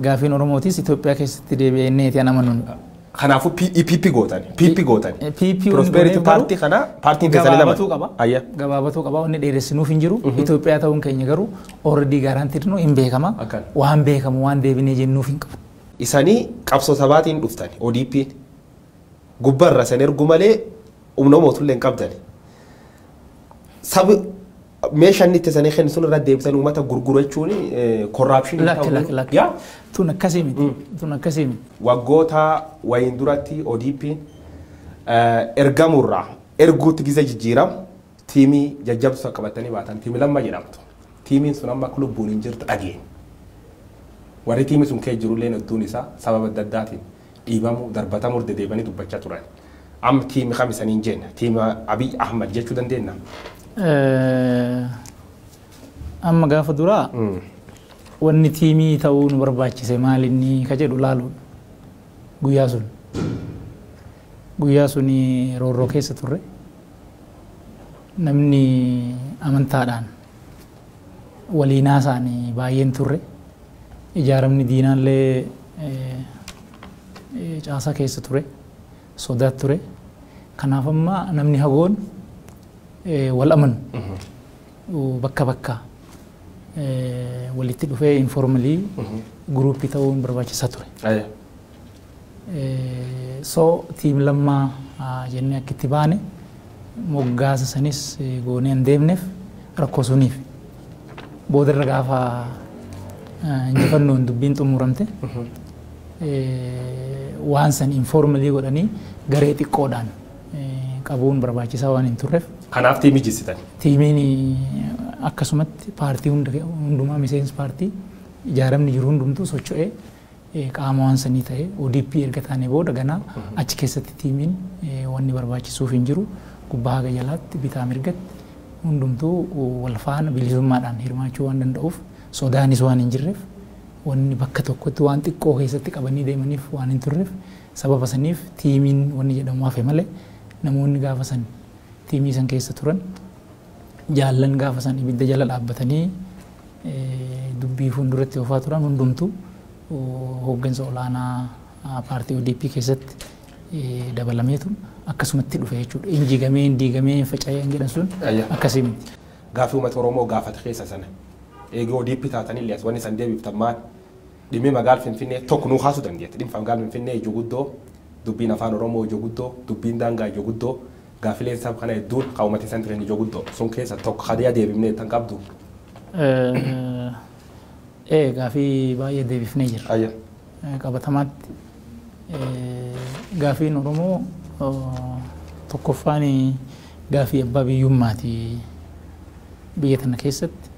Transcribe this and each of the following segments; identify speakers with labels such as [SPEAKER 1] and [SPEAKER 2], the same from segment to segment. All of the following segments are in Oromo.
[SPEAKER 1] Gaafiin Oromootis Itoophiyaa keessatti deebi'ee inni eeti an amanuun. Kanaafuu
[SPEAKER 2] PP gootan. PP gootan. PP Prosperity Party kana paartiin keessanii lama. Gabaabatuu qaba. Ayya. Gabaabatuu qaba.
[SPEAKER 1] Wanni dheeressinuuf hin jiru. Itoophiyaa ta'uun keenya garuu already guaranteed nu hin beekama. Akkan. Waan beekamu waan deebinee jennuuf hin qabu. Isanii
[SPEAKER 2] qabsoo sabaatiin dhuftan ODP gubbarra san ergu malee humna mootullee hin qabdan. Sabi meeshaan inni itti sanii kennu sun irra deebisanii uummata gurguru jechuun korraapshinii Lakki lakki lakki. Yaa
[SPEAKER 1] Tun akkasii miti. Tun akkasii miti. waggoota
[SPEAKER 2] wayiin duratti ODP ergamurraa erguutti gizee jijjiiram tiimii jajjabsuu qabatanii baatan tiimii lamma jedhamtu. Tiimiin sun amma akka lubbuun hin jirtu dhageenye. Warri tiimii sun keessa jirullee hedduun isaa sababa adda addaatiin dhiibamuu, darbatamuu irra dedeebanii dubbachaa turan. Amma tiimi kam isaniin jenna? Tiima Abiy Ahmad jechuu dandeennaa?
[SPEAKER 1] Amma gaafa duraa wanni tiimii ta'uu nu barbaachise maal inni ka jedhu laaluudha. Guyyaa sun. Guyyaa sun roorroo keessa turre. Namni amantaadhaan waliin haasa'an baay'een turre. Ijaaramni diinaallee caasaa keessa ture. Sodaa ture. Kanaaf amma namni hagoon wal amanu bakka bakka walitti dhufee informalii guruuppii ta'uun barbaachisaa ture. So team Lammaa jennee akka itti baane moggaasa sanis goonee hin deemneef rakkoo suniif. Boodarra gaafa injifannoon dubbiin xumuramte waan san informalii godhanii garee xiqqoodhaan qabuun barbaachisaa waan hin turreef. Kanaaf tiimii jessitan.
[SPEAKER 2] Tiimiin
[SPEAKER 1] akkasumatti paartii hundumaa miseensi paartii ijaaramni jiru hundumtuu socho'ee qaama waan sanii tahe odp erga taanee booda ganaa achi keessatti tiimiin wanni barbaachisuuf hin jiru gubbaa haga jalaatti bitaa mirgatti hundumtuu wal faana bilisummaadhaan hirmaachuu waan danda'uuf sodaanis waan hin jirreef wanni bakka tokkotti waan xiqqoo keessatti qabanii deemaniif waan hin turreef sababa saniif tiimiin wanni jedhamu hafe malee namoonni gaafa san tiimii san keessa turan Jaallan gaafa san ibidda jala dhaabbatanii dubbii fuulduratti oofaa turan hundumtu hooggansa olaanaa paartii ODP keessatti dabalameetu akkasumatti dhufe jechuudha. Hin jigamee, hin diigamee, hin faca'ee hin jedhan sun akkasii miti. Gaaffii uummata Oromoo
[SPEAKER 2] gaafate keessa sana eega ODP taatanillee as wanni san deebiftan maal? Dhimmi magaal Finfinnee tokko nuu kaasuu dandeetta. Dhimmi magaal Finfinnee ijoo guddoo dubbiin afaan Oromoo ijoo guddoo dubbiin daangaa ijoo guddoo Gaaffileen sab kana hedduun ka uumati isaan jiran ijoo guddoo. Sun keessa tokko ka deeya deebifne jettan qabdu?
[SPEAKER 1] Ee gaafii baay'ee deebifnee jirra. Ayya. Qabatamaatti gaafiin Oromoo tokkoffaan gaafii abbaa biyyummaati biyya tana keessatti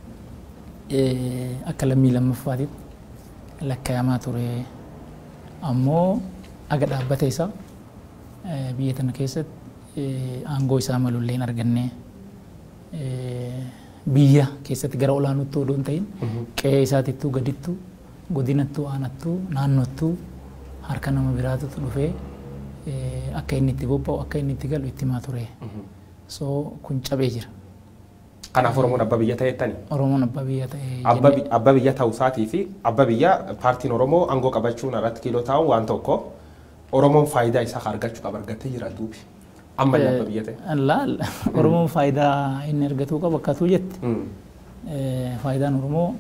[SPEAKER 1] akka lammii lammaffaatitti lakkaa'amaa ture ammoo aga dhaabbata isaa Biyya tana keessatti aangoo isaa malu illee hin arganne. Biyya keessatti gara olaanuttuu odoo hin ta'in qe'ee isaatittuu gadittu godinattuu aanattuu naannottuu harka nama biraatutu dhufee akka inni itti bobba'u akka inni itti galu itti himaa ture. So kun cabee jira. Kanaaf
[SPEAKER 2] Oromoon abbaa biyya ta'eettani. Oromoon abbaa biyya
[SPEAKER 1] ta'ee Abba bi- abba biyya ta'uu
[SPEAKER 2] isaatii fi abba biyya paartiin Oromoo aangoo qabachuun irratti kiiloo taa'uun waan tokko. Oromoon faayidaa isaa ka argachu qaba argattee jira duubi. Amma illee abba biyya ta'e. Laal Oromoon
[SPEAKER 1] faayidaa inni argatuu qabu akkatuu jette. Faayidaan Oromoo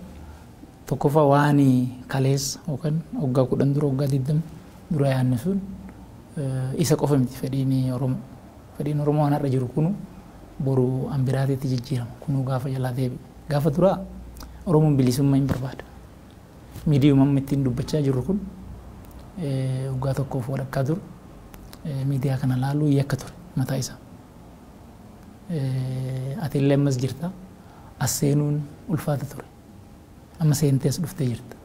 [SPEAKER 1] tokkoffaa waan kaleessa yookaan waggaa kudhan dura waggaa digdama dura yaanne sun isa qofa miti fedhiin Oromoo. Fedhiin Oromoo waan har'a jiru kunu boru an biraatiitti jijjiirama kunuu gaafa jalaa deebi'u. Gaafa duraa Oromoon bilisummaa hin barbaada. Miidiyuma amma ittiin dubbachaa jirru kun waggaa tokkoof walakkaa dur miidiyaa kana laaluu yakka ture mataa isaa. Ati illee ammas jirta. As seenuun ulfaata ture. Amma seentee as dhuftee jirta.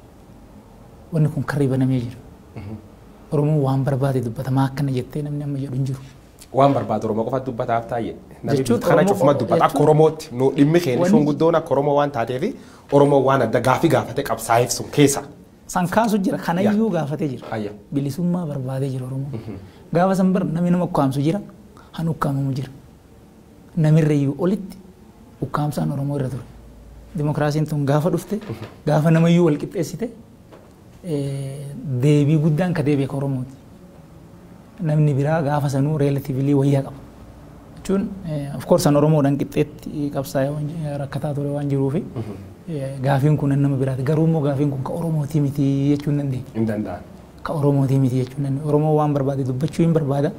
[SPEAKER 1] Wanni kun karri banamee jira. Oromoon waan barbaade dubbata maa akkana jettee namni amma jedhu hin jiru. Waan barbaadu Oromoo
[SPEAKER 2] qofa dubbataaf taa'e. Namni Jechuun biyya kana Oromoo cufuma qofa- dubbata. Akka jechuun- Oromootti nu dhimmi keenya Wanni- guddoon akka Oromoo waan taateef Oromoo waan adda gaafii gaafatee qabsaa'eef sun keessa. San kaasu jira.
[SPEAKER 1] Kanayyuu gaafatee jira. Ayya. Bilisummaa barbaadee jira Oromoo. Gaafa san bar namni nama ukkaamsu jira. Han ukkaamamu jira. Namirrayyuu olitti ukkaamsaan Oromoo irra ture. Dimookiraasiin tun gaafa dhufte gaafa namayyuu wal qixxeessite deebii guddaan ka deebi'e ka Oromooti. Namni biraa gaafa sanuu relatively wayya qaba. Jechuun of course an Oromoodhaan qixxeetti qabsaa'ee rakkataa ture waan jiruufi gaafiin kun nama biraati. Garuu immoo gaafiin kun ka Oromooti miti jechuun dandeenya. Hin danda'an. Ka
[SPEAKER 2] Oromooti miti
[SPEAKER 1] jechuun dandeenya. Oromoo waan barbaade dubbachuu hin barbaada.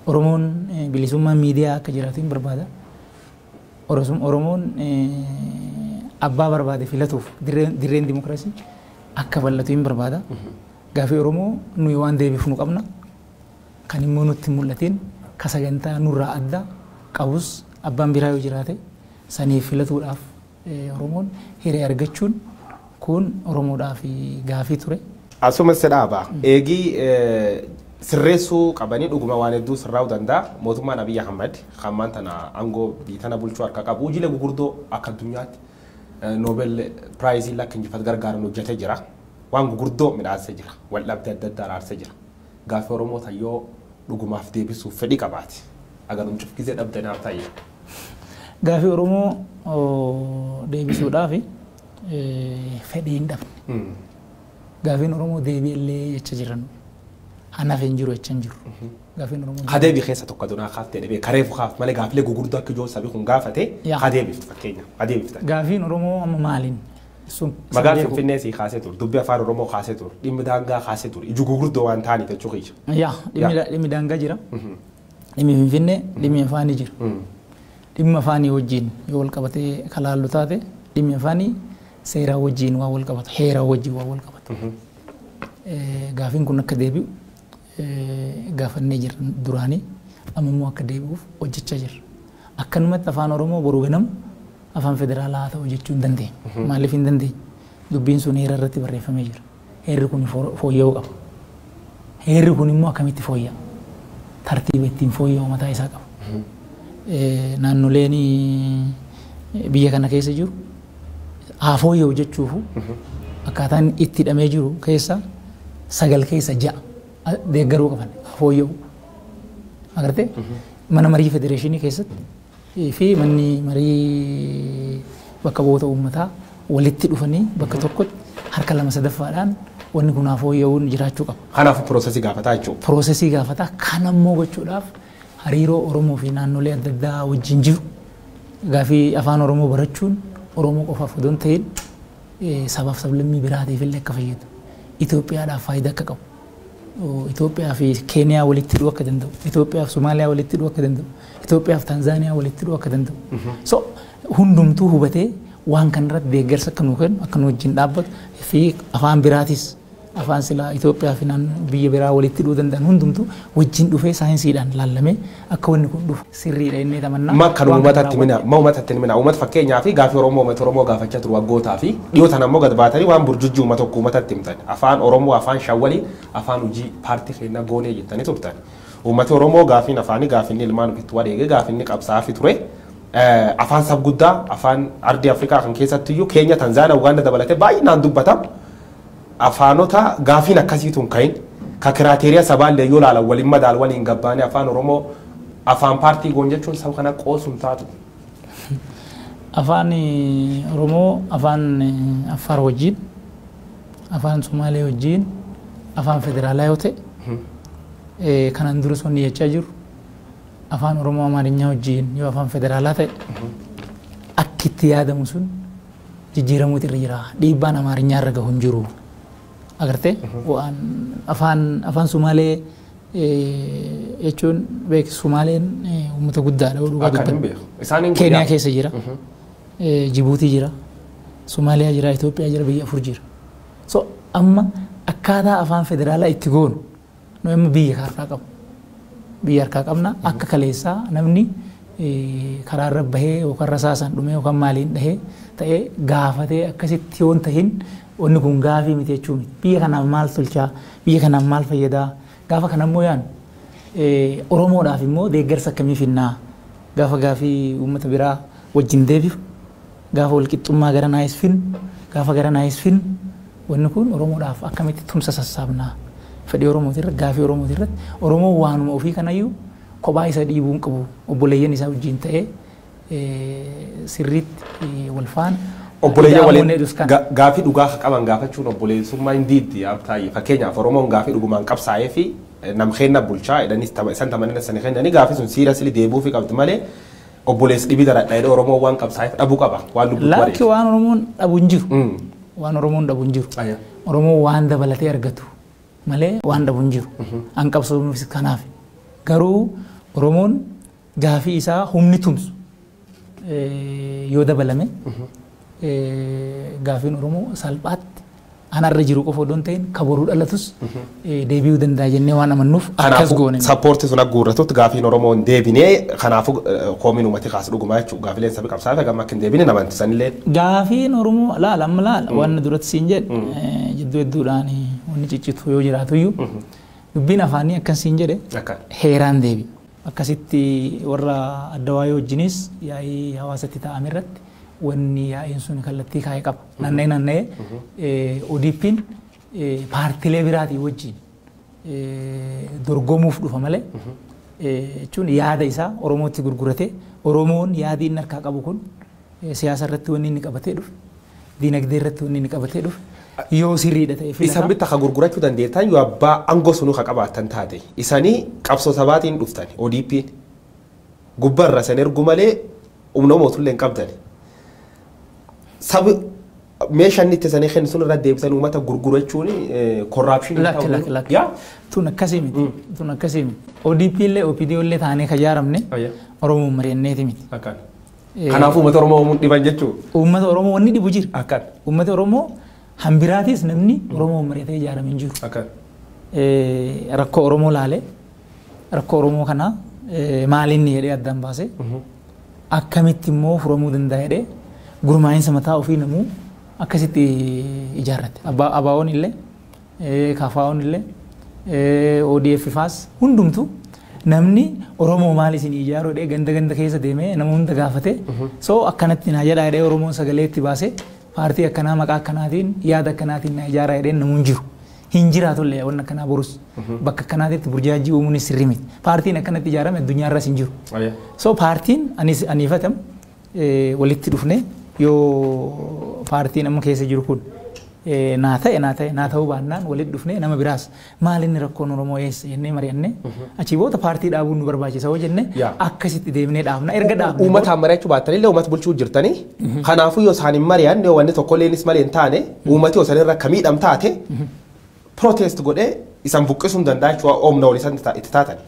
[SPEAKER 1] Oromoon bilisummaan miidiyaa akka jiraatu hin barbaada. Oromoon abbaa barbaade filatuuf dirreen dimokiraasii akka bal'atu hin barbaada. Gaafii Oromoo nuyi waan deebifnu qabna. Kan immoo nutti hin mul'atiin ka sagantaa nurraa adda qabus abbaan biraa yoo jiraate saniif filatuudhaaf Oromoon hiree argachuun kun Oromoodhaaf gaafii ture. Asuma si dhaaba.
[SPEAKER 2] Eegii sirreessuu qabanii dhuguma waan hedduu sirraa'uu danda'a. Mootummaan Abiy Ahmed kan ammaan tana aangoo biyya tana bulchuu harka qabu hojiilee gugurdoo akka addunyaatti Noobel Piraayiziin akka injifatu gargaaran hojjetee jira. Waan gugurdoo midhaassee jira. Waldhabdee adda addaa araarsee jira. Gaafi oromoo tan yoo dhugumaaf deebisuuf fedhi qabaate aganum cuf gizee dhabda naaf ta'i. Gaafi
[SPEAKER 1] oromoo deebisuudhaafi fedhi hin dhabne. Gaafin oromoo deebi illee jecha jiran anaf hin jiru jecha hin jiru. Gaafin oromoo Ka deebi keessa tokko adunaa
[SPEAKER 2] kaaf ta'e dhibee kareefu kaaf malee gaafilee gugurdaa akka ijoon sabi kun gaafate Yaa. ka deebiftu fakkeenya ka deebiftan. Gaafiin oromoo amma maalin
[SPEAKER 1] sun Magaan beeku.
[SPEAKER 2] Finfinnee sii kaasee ture. Dubbi afaan Oromoo kaasee ture. Dhimmi daangaa kaasee ture. Iju gurguddoo waan ta'aniif jechuu kiyya. Yaa dhimmi Yaa. da- dhimmi
[SPEAKER 1] daangaa jira. Dhimmi Finfinnee dhimmi afaanii jira. Dhimma afaanii wajjin yoo wal qabatee kan laallu taate dhimmi afaanii seeraa wajjin waan wal qabatu heeraa wajjin waan wal qabatu. Eh, Gaafiin kun akka deebi'u gaafannee jirra duraani. Amma immoo akka deebi'uuf hojjechaa jirra. Akkanumatti Afaan Oromoo boru ganamu Afaan Federaalaa haa ta'u jechuu hin dandeenyu. Maaliif hin dandeenyu? Dubbiin sun heera irratti barreeffamee jira. Heerri kun fooyya'uu qaba. Heerri kun immoo akkamitti fooyya'a? Tartiiba ittiin fooyya'u mataa isaa qaba. Naannoleen biyya kana keessa jiru haa fooyya'u jechuufu akkaataa inni itti hidhamee jiru keessa sagal keessa ja'a a- deeggaruu qaban haa fooyya'u. Agartee mana marii federeeshinii keessatti fi manni marii bakka bu'oota uummataa walitti dhufanii bakka tokkotti harka lama sadaffaadhaan wanni kun haa fooyya'uun jiraachuu qaba. Kanaaf piroosesii gaafataa
[SPEAKER 2] jechuudha. Piroosesii gaafataa
[SPEAKER 1] kan ammoo gochuudhaaf hariiroo Oromoo fi naannolee adda addaa wajjin jiru gaaffii afaan Oromoo barachuun Oromoo qofaaf odoo hin ta'in sabaaf sablammii biraatiif illee akka fayyadu Itoophiyaadhaaf faayidaa akka qabu Itoophiyaa fi Keeniyaa walitti hidhuu akka danda'u Itoophiyaa fi Somaaliyaa walitti hidhuu akka danda'u Itoophiyaa fi Taanzaaniyaa walitti hidhuu akka danda'u so hundumtuu hubatee waan kanarratti deeggarsa akka nuu kennu akka nu wajjin dhaabbatu fi afaan biraatis Afaan silaa Itoophiyaa fi naan biyya biraa walitti hidhuu danda'an hundumtuu wajjin dhufee saayinsiidhaan laallamee akka wanni kun dhufu sirriidha jennee tamannaa. Ma kanuma umatatti himina
[SPEAKER 2] ma umatatti hin himina umat fakkeenyaaf gaafii oromoo umati oromoo gaafachaa turu waggootaa fi dhiyoo tana ammoo gad baatanii waan burjujjii uma tokko umatatti himtan afaan oromoo afaan shan waliin afaan hujii paartii keennaa goonee jettanii turtan umati oromoo gaafiin afaanii gaafinni ilmaan ofitti wareege gaafinni qabsaa'afi ture afaan sab guddaa afaan ardii afrikaa kan keessattiyyuu keenya tanzaana ugaanda dabalatee baay'inaan dubbata Afaanota gaafiin akkasii tun kayin, ka kiraateeriya sabaalleen yoo laalan wal hin madaalu, waliin gabbaane Afaan Oromoo Afaan paartii goon jechuun saba kana qoosu hin taatu. Afaan
[SPEAKER 1] Oromoo Afaan Affaar wajjiin, Afaan Somaalee wajjiin, Afaan Federaalaa yoo ta'e, kanaan duras wanni jechaa jiru, Afaan Oromoo Amaarinyaa wajjiin yoo Afaan Federaalaa ta'e, akki itti yaadamu sun, jijjiiramuutu irra jira. Dhiibbaan Amaarinyaa irra gahu hin jiru. Agartee? Waan afaan afaan Sumaalee eh, jechuun beektu Sumaaleen eh, uummata guddaadha. Dhugaa Akka dubbachuuf. hin beeku. Isaan hin Keeniyaa guyyaa. keessa jira. Eh, Jibuutii jira. Somaaliyaa jira. Itoophiyaa jira. Biyya afur jira. So amma akkaataa afaan federaalaa itti goonu Nu amma biyya harkaa qabna. Biyya harkaa qabna akka kaleessaa namni karaa irra bahee yookaan rasaasaan dhumee yookaan maaliin dhahee ta'ee gaafatee akkasitti yoon tahin wanni kun gaafii miti jechuu miti. Biyya kanaaf maal tolchaa? Biyya kanaaf maal fayyadaa? Gaafa kana immoo yaanu Oromoodhaaf immoo deeggarsa akkamii finnaa? Gaafa gaafii uummata biraa wajjin deebi'u Gaafa walqixxummaa gara Nice Film Gaafa gara Nice Film wanni kun Oromoodhaaf akkamitti tumsa sassaabna? Fedhii Oromooti irratti, gaafii Oromooti irratti, Oromoon waanuma ofii kanayyuu kophaa isa dhiibuu hin qabu. Obboleeyyan isaa wajjin ta'ee sirriitti wal faana
[SPEAKER 2] Obboleeyyan ida'amuu waliin inni jedhus kana. ga- gaafii dhugaa ka qaban gaafachuun obboleessummaa hin diiddi yaa Abtaayye. Fakkeenyaaf Oromoon gaafii dhugumaan qabsaa'ee fi nam keenna bulchaa jedhanii tama- isan tamanina sani kennanii gaafii sun siirasili deebi'uufi qabdi malee Obboleessi dhibi daradha jedhee Oromoon waan qabsaa'eef dhabu qaba. Waan lubbuutti Laakki wareege. waan Oromoon dhabu
[SPEAKER 1] hin jiru. Mm. Waan Oromoon dhabu hin jiru. Ayya. Oromoon waan dabalatee argatu malee waan dhabu hin jiru. An qabsoomuufis kanaaf. Garuu Oromoon gaafii isaa humni tumsu eh, yoo dabalame eh, gaafiin Oromoo salphaatti An har'a jiru qofa odoo hin ta'in ka boru dhalatus deebi'uu danda'a jennee waan amannuuf akkas Kanaafuu goone. sappoortii sun agguurratutti
[SPEAKER 2] gaafiin Oromoo hin deebine kanaafuu koomiin uummati kaasu dhugumaa jechuudha. Gaafileen sabi qabsaa'aa fi gamma akka hin deebine nama amanti sanillee. Gaafiin Oromoo
[SPEAKER 1] laala amma laala waan duratti siin jedhe jidduu hedduudhaan wanni ciccitu yoo jiraatuyyuu dubbiin afaanii akkan siin jedhe Akka. heeraan deebi. Akkasitti warra adda waayee wajjinis yaa'ii hawaasatti taa'ame irratti wanni yaa'iin sun kallattii kaa'e qaba. Nanna'ee nanna'ee ODPn paartilee biraatii wajjin dorgomuuf dhufa malee jechuun yaada isaa Oromootti gurguratee Oromoon yaadii inni harkaa qabu kun siyaasa irratti wanni inni qabatee dhufe diinagdee irratti wanni inni qabatee dhufe yoo sirriidha ta'e Isan filata. bitta ka gurgurachuu
[SPEAKER 2] dandeettan yoo abbaa aangoo sunuu ka qabaattan taate. Isanii qabsoo sabaatiin dhuftan ODPn. gubba irra isan ergu malee humna mootulle hin qabdani. Sabi meesha inni itti isanii kennu sun irra deebisan uummata gurgurachuun korraapshinii Lakki ta'uu lakki lakki. yaa Tun
[SPEAKER 1] akkasii miti. Tun akkasii miti. ODP illee OPDO illee taanee kan ijaaramne Ayya. Oromoon mari'anneeti miti. akkan. Eh, Kanaafuu
[SPEAKER 2] uummata Oromoo uumuun dhiban jechuu Uummata Oromoo wanni dhibu
[SPEAKER 1] jira. akkan Uummata Oromoo hambiraatis namni Oromoon mari'atee ijaarame hin jiru. akkan. Eh, Rakkoo Oromoo laalee Rakkoo Oromoo kana maalinni jedhee addaan baase akkamitti immoo furamuu danda'a jedhee gurmaa'insa mataa ofii namuu akkasitti ijaarrate. Abaawoon illee kaafaa'oon illee ODF faas hundumtu namni Oromoo maal isin ijaaru jedhee ganda ganda keessa deemee nama hunda gaafate so akkanatti naa jedhaa jedhee Oromoon sagalee itti baase paartii akkanaa maqaa akkanaatiin yaada akkanaatiin naa ijaaraa jedheen namuun jiru. hin jiraatullee waan akkanaa borus bakka akkanaatitti burjaajii uumuun sirrii miti. Paartiin akkanatti ijaarame addunyaa irras hin jiru. So paartiin anis aniifatam eh, walitti dhufne yoo paartiin amma keessa jiru kun eh, naa ta'e naa ta'e naa ta'uu baannaan walitti dhufne nama biraas maal inni rakkoon Oromoo eessa jennee mari'anne achii booda paartii dhaabuun nu barbaachisa hoo jenne Yaa. akkasitti deemnee dhaabna erga dhaabne Uummataan mari'achuu baattan illee
[SPEAKER 2] uummata bulchuu jirtanii Kanaafuu yoo isaan hin mari'anne wanni tokkolleenis malee hin taane uummati yoo sanirra akka miidham taate protest godhee isan buqqisuu hin danda'a jechuudha oomna ol isan ta- itti taatani.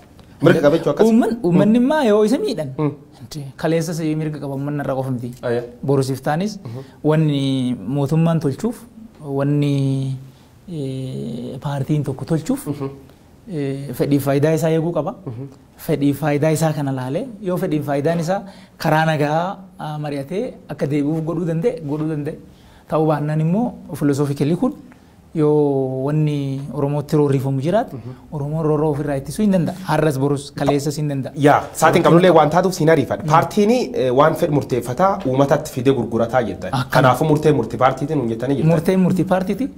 [SPEAKER 2] Mirga qaba jechuu akkas. Uumman- Uummanni immaa yoo
[SPEAKER 1] isa miidhan Mm. Inti- kaleessas mirga qaba uummanni irra qofa miti. Ayya. Borusiif taanis wanni mootummaan tolchuuf wanni eh, paartiin tokko tolchuuf fedhiif faayidaa isaa eeguu qaba. Fedhiif faayidaa isaa kana laalee yoo fedhiif faayidaan isaa karaa nagaa mari'atee akka deebi'uuf godhuu danda'e godhuu danda'e. Ta'uu baannaan immoo filosoofikalii kun yoo wanni Oromootti roorrifamu jiraate Oromoon roorroo ofirraa ittisuu hin danda'a. Har'as borus kaleessas hin danda'a. Yaa saatiin qabnullee
[SPEAKER 2] waan taatuuf siin ariifadha. Paartiin waan fedhu murteeffataa uumatatti fidee gurgurataa jettan. Kanaafuu murtee murti paartiitiin hin jettanii jirtan. Murtee murti paartiiti.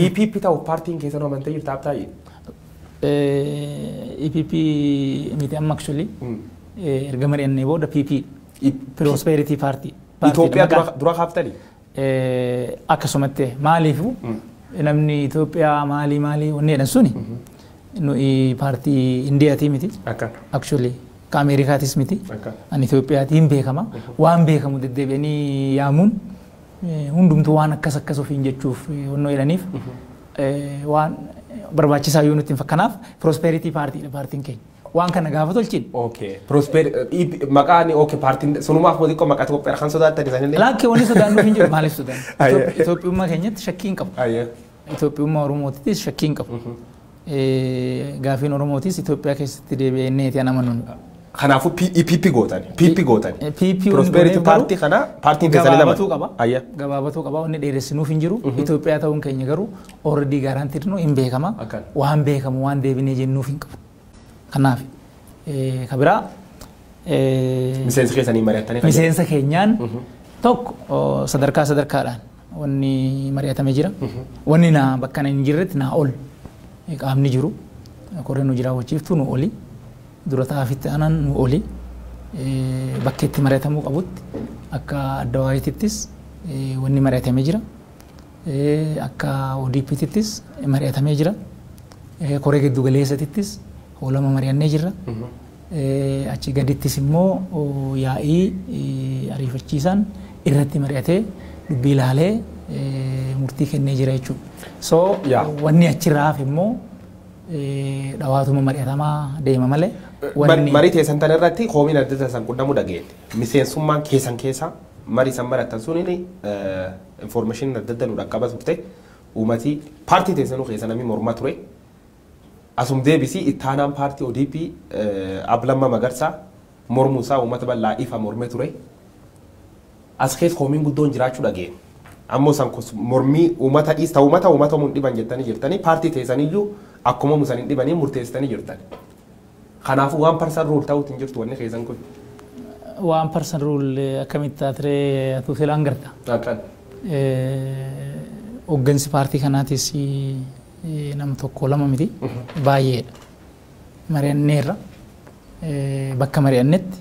[SPEAKER 1] EPP
[SPEAKER 2] ta'uuf paartiin keessan amantee jirta Habtaayye? Eh,
[SPEAKER 1] EPP miti amma actually eh, erga mari'annee booda PP Prosperity Party. Party Itoophiyaa dha, maqaa- dura-
[SPEAKER 2] dura kaaftanii? Eh,
[SPEAKER 1] akkasumatti maaliifu namni Itoophiyaa maalii maalii wanni jedhan suni nuyi paartii Indiyaatii miti Akka. actually ka Ameerikaatis miti Akka. an Itoophiyaatiin beekama waan beekamu deddeebi'anii yaamuun hundumtuu waan akkas akkas ofiin jechuuf onnoo jedhaniif waan barbaachisaa yoo nutti hin fakkanaaf prosperity party dha paartiin keenya. Waan kana gaafa tolchin. Okay. Prosper maqaan
[SPEAKER 2] okay paartiin sunumaaf moo xiqqoo maqaa Itoophiyaa kan sodaattan isaanillee. Laakkee wanni sodaannu hin
[SPEAKER 1] jiru maaliif sodaannu? Itoophiyummaa keenyatti shakkii hin qabu. Itoophiyummaa Oromootittis shakkii hin qabu. Gaafiin Oromootis Itoophiyaa keessatti deebi'ee inni eetii an amanuun. Kanaafuu
[SPEAKER 2] PP gootani. PP gootani. PP Prosperity Party kana paartiin keessan lama. Gabaabatuu qaba. Ayya. Gabaabatuu
[SPEAKER 1] qaba. Inni dheeressinuuf hin jiru. Itoophiyaa ta'uun keenya garuu already guaranteed nu hin beekama. Akkan. Waan beekamu waan deebinee jennuuf hin qabu. Kanaaf ka biraa
[SPEAKER 2] Miseensi keessanii mari'attanii kan miseensa keenyaan
[SPEAKER 1] tokko sadarkaa sadarkaadhaan Wanni mari'atame jira. Wanni na bakka na hin jirretti naa ol qaamni jiru koreen hojii raawwachiiftuu nu oli dura taa'afitti aanan nu oli bakka itti mari'atamuu qabutti akka adda waayitittis wanni mari'atame jira. Akka ODPtittis mari'atamee jira. Koree giddu galeessatittis hoolama mari'annee jirra. Achii gadittis immoo yaa'ii ariifachiisaan irratti mari'atee dubbii ilaalee murtii kennee jira jechuudha. So wanni achirraa hafe immoo dhawaatuma mari'atamaa deema malee wanni Marii teessan
[SPEAKER 2] tan irratti koomiin adda addaa san qunnamuu dhageette. Miseensummaan keessan keessaa marii san marattan suniin information adda addaa nu dhaqqaba turte. Uumatii paartii teessanuu keessa namni mormaa ture. Asum deebisi ittaanaan paartii odp Ab Lamma Magarsa mormuu isaa uummata bal'aa ifa morme ture. As kees komiin guddoon jiraachuu dhageene. Ammo san kos mormii uummata dhiis ta uummata uumatamu hin dhiban jettani jirtani paartii teesaniyyuu akkumamu san hin dhibanii murteesitani jirtani. Kanaafuu waan parsan ruul ta'uutti hin jirtu wanni keessan kun. Waan
[SPEAKER 1] parsan ruul akkamitti taatiree atuu seelaan garta. Akkan. Hoggansi paartii kanaatis nam tokko lama miti baay'eedha. Mari'anneerra bakka mari'annetti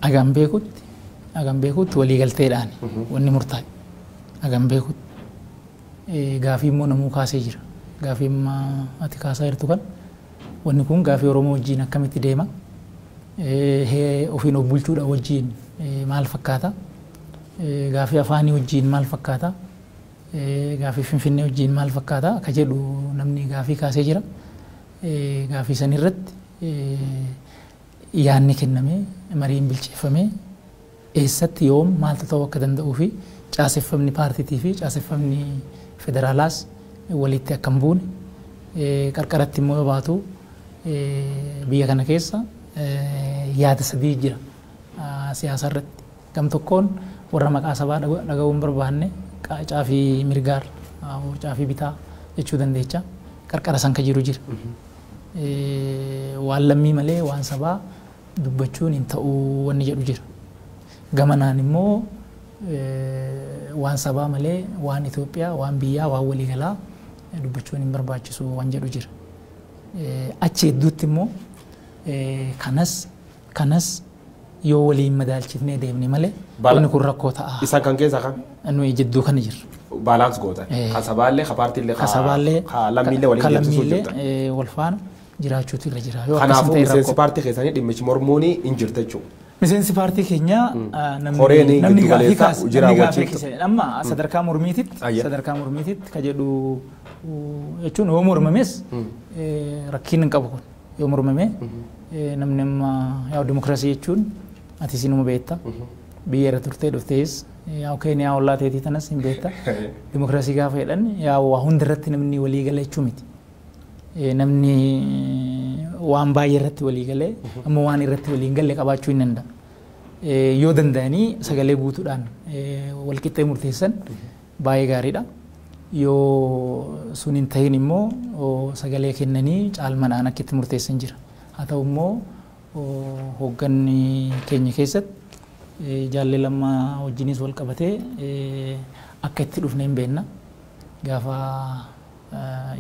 [SPEAKER 1] agan beekutti agan beekutti waliigalteedhaan wanni murtaa'e agan beekutti. gaafii immoo namuu kaasee jira. Gaafii amma ati kaasaa jirtu kan wanni kun gaafii Oromoo wajjiin akkamitti deema? Ofiin of bulchuudhaa wajjiin maal fakkaata? Gaafii afaanii wajjiin maal fakkaata? Gaafii Finfinnee wajjiin maal fakkaata? Ka jedhu namni gaafii kaasee jira. Gaafii san irratti yaanni kennamee mariin bilcheeffamee eessatti, yoom, maaltu ta'uu akka danda'uu fi caaseffamni paartiitii fi caaseffamni federaalaas waliitti akka hin buune, qarqaratti immoo yoo baatu biyya kana keessa yaada sadii jira siyaasa irratti. Gam tokkoon warra maqaa sabaa dhaga'uu hin barbaanne qaacaa fi mirgaar uurcaa fi bitaa jechuu dandeecha. Qarqara san ka jiru jira. Waan lammii malee waan sabaa dubbachuun hin ta'u wanni jedhu jira. Gamanaan immoo waan sabaa malee waan Itoophiyaa, waan biyyaa, waan waliigalaa dubbachuun hin barbaachisu waan jedhu jira. Achi hedduutti immoo kanas kanas yoo waliin madaalchifnee deemne malee Bala- inni kun rakkoo ta'a. Isan kan keessa kan
[SPEAKER 2] Nuyi jidduu kana
[SPEAKER 1] jirra. baalaans gootan.
[SPEAKER 2] Eh. Kan sabaallee, kan paartiillee, Ka sabaallee, ka
[SPEAKER 1] lammiillee waliin ka
[SPEAKER 2] deemsisuuf lammiillee, jirtan. eh, wal faana.
[SPEAKER 1] jiraachuutu irra jira. Yoo akkas hin Kanaafuu ta'e miseensi rakkoo. paartii
[SPEAKER 2] keessanii dhimmichi mormuun hin jirta jechuudha. Miseensi paartii
[SPEAKER 1] keenyaa ah, namni Koreen namni gaaffii giddugaleessaa kaase hojii namni gaaffii raawwachiiftu. kaase amma sadarkaa mormiititti Ayya. sadarkaa mormiititti ka jedhu uh, jechuun yoo mormames eh, rakkiin hin qabu kun yoo mormame eh, namni amma yaa dimokiraasii jechuun ati sinuma beekta biyya irra turtee dhuftees yaa keeniyaa ollaa teetii tanas hin beekta dimokiraasii gaafa jedhan yaa waa hunda irratti namni walii gala jechuu miti. Eh, Namni waan baay'ee irratti walii galee ammoo waan irratti walii hin galle qabaachuu hin danda'a. Eh, Yoo danda'anii sagalee guutuudhaan eh, wal qixxee murteessan baay'ee gaariidha. Yoo sun hin ta'in immoo oh, sagalee kennanii caalmadhaan akka itti murteessan jira. Haa ta'u immoo oh, hoogganni keenya keessatti eh, jaallee lama wajjinis wal qabatee eh, akka itti dhufne hin beekna. Gaafa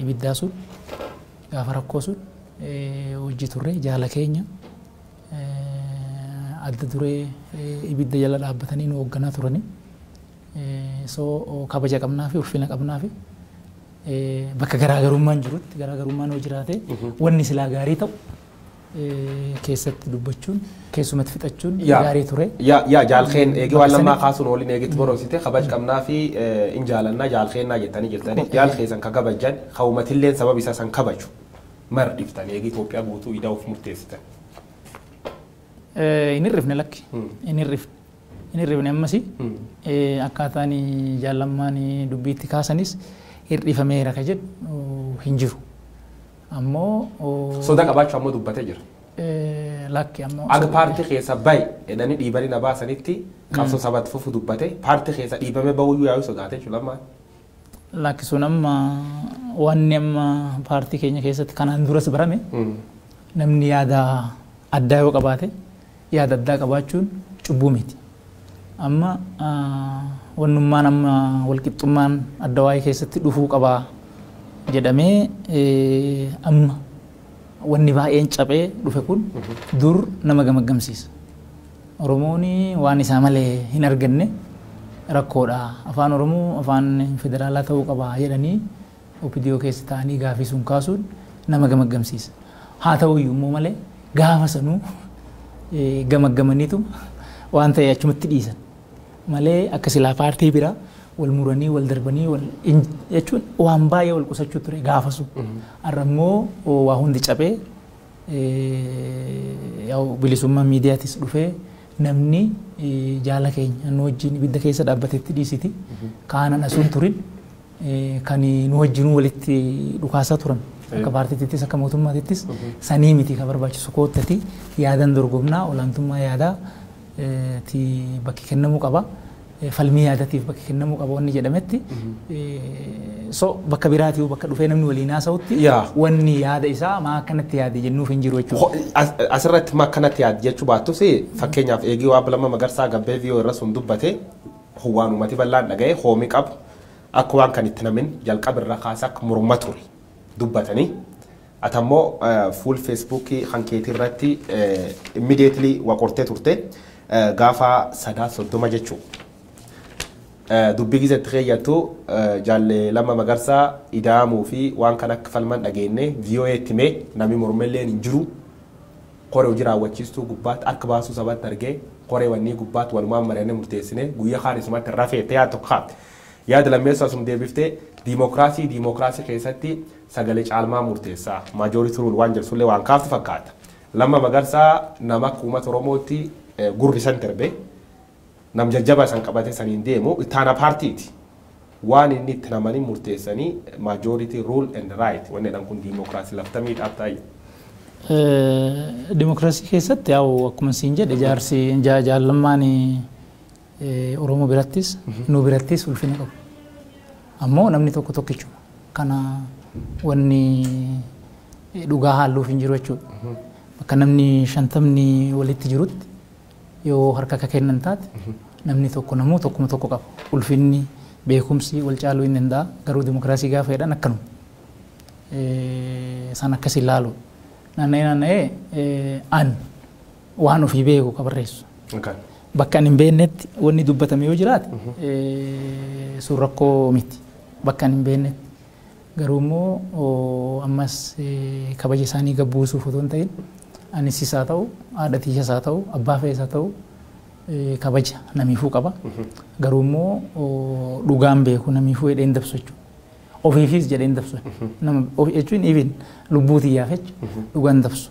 [SPEAKER 1] ibiddaa sun gaafa rakkoo sun wajji turre jaala keenya adda duree ibidda jala dhaabbatanii nu hoogganaa turanii so kabaja qabnaa fi ulfina qabnaa fi bakka garaagarummaan jirutti garaagarummaan yoo jiraate wanni silaa gaarii ta'u keessatti dubbachuun keessumatti fixachuun gaarii ture. Yaa jaalkeen
[SPEAKER 2] eegee waan lammaa kaasuun waliin eegetti boroomsite kabaj qabnaa fi in jaalannaa jaalkeennaa jettanii jirtanii jaalkee san ka kabajjan ka umatilleen sababa isaa san kabaju mar dhiftan eegee Itoophiyaa guutuu idaa of murteessitan.
[SPEAKER 1] Hin hirrifne lakki hin hirrifne hin hirrifne ammas akkaataan jaallammaan dubbiitti kaasanis hir'ifameera ka jedhu hin jiru. ammoo. Soda qabaachuu
[SPEAKER 2] ammoo dubbate jira. Lakki
[SPEAKER 1] ammoo. Ag paartii keessa
[SPEAKER 2] bayi jedhanii dhiibanii na baasanitti qabsoo saba itti fufu dubbate paartii keessa dhiibamee bahuyyuu yaa'u sodaate jechuudha amma. Lakki
[SPEAKER 1] sun amma wanni amma paartii keenya keessatti kanaan duras barame namni yaada addaa yoo qabaate Yaada addaa qabaachuun cubbuu miti. Amma wannummaan amma walqixxummaan adda waa'ee keessatti dhufuu qaba jedhamee amma wanni baay'een caphee dhufe kun dur nama gamaggamsiisa. Oromoon waan isaa malee hin arganne rakkoodha. Afaan Oromoo afaan federaalaa ta'uu qaba jedhanii Opdo keessa taa'anii gaaffii sun kaasuun nama gamaggamsiisa. Haa ta'uyyuu immoo malee gaafa sanuu gamaggamaniituma waan ta'e achumatti dhiisan. Malee akka silaa paartii bira wal muranii wal darbanii wal jechuun waan baay'ee wal qusachuu ture gaafa sun. Har'a immoo waa hundi cabee bilisummaa miidiyaatis dhufee namni jaala keenya nu wajjin ibidda keessa dhaabbatetti dhiisiti. Kaanaan asuun turin kan nu wajjinuu walitti dhukaasaa turan akka paartiittis akka mootummaatittis sanii miti kan barbaachisu koottati yaadan dorgomnaa olaantummaa yaadaa ti bakki kennamuu qaba falmii yaadatiif bakki kennamuu qaba wanni jedhametti so bakka biraatii bakka dhufee namni waliin haasa'utti Yaa. wanni yaada isaa maa akkanatti yaade jennuuf hin jiru jechuudha. Ho- as- Asirratti ma akkanatti
[SPEAKER 2] yaad jechuu baattus fakkeenyaaf eegii waa bilama magarsaa gabbee viiyoo irra sun dubbate Kun waan uumati bal'aan dhaga'e koomi qabu akka waan kan itti namin jalqaba irra kaase akka morma ture dubbatani. Ati ammoo fuul Facebook kan keetii irratti immediately wa qortee turte gaafa Sadaasa 30 jechuu. Dubbii gize itti keeyyattu jaalle Lamma Magarsaa ida'amuu fi waan kan akka falman dhageenne voa itti himee nami mormelleen hin jiru Kore hojii raawwachiistuu gubbaatti ark baasuu sabatti argee koree wannii gubbaatti walumaan mari'annee murteessinee guyya kaan isumatti rafee jettee yaada tokko kaafte. Yaada lammeessoo asum deebiftee diimookiraasii diimookiraasii keessatti sagale caalmaa murteessa, majority rule, waan jedhu sullee waan kaaftu fakkaata. Lamma Magarsaa nama akka uumata Oromootti gurri isant erbe. Nam jajjabaa isan qabate saniin deemu ittaana paartiiti. Waan inni itti namanin murteessani majority rule and right wanni jedhan kun diimokraasi lafta miidhaaf taayyu.
[SPEAKER 1] Dimokraasii keessatti yaa'u akkuma siin jedhe jaarsi jaal Lammaan Oromoo birattis nu birattis ulfina qabu. Ammoo namni tokko tokkichuma. Kana wanni dhugaa haalluuf hin jiru jechuudha. Bakka namni shantamni walitti jirutti Yoo harka ka kennan taate, namni tokko namuu tokkuma tokko qaba. Ulfinni, beekumsi wal caaluu hin danda'a. Garuu dimokiraasii gaafa jedhan akkanuma. Isaan akkasi ilaalu. Naanna'ee naanna'ee an waan ofii beeku ka barreessu. Bakka ani hin beeknetti wanni dubbatame yoo jiraate sun rakkoo miti. Bakka ani hin beeknetti. Garuu immoo ammas kabaja isaanii gad buusuuf otoo hin ta'in anis is haa ta'u, haadha tiyyas haa ta'u, abbaa fe'es haa ta'u kabaja namiifuu qaba. Garuu immoo dhugaan beeku namiifuu jedhee hin dabsu jechuudha. Ofiifis jedhee hin dabsu. Nama ofi jechuun even lubbuu tiyyaaf jechuudha. Dhugaan dabsu.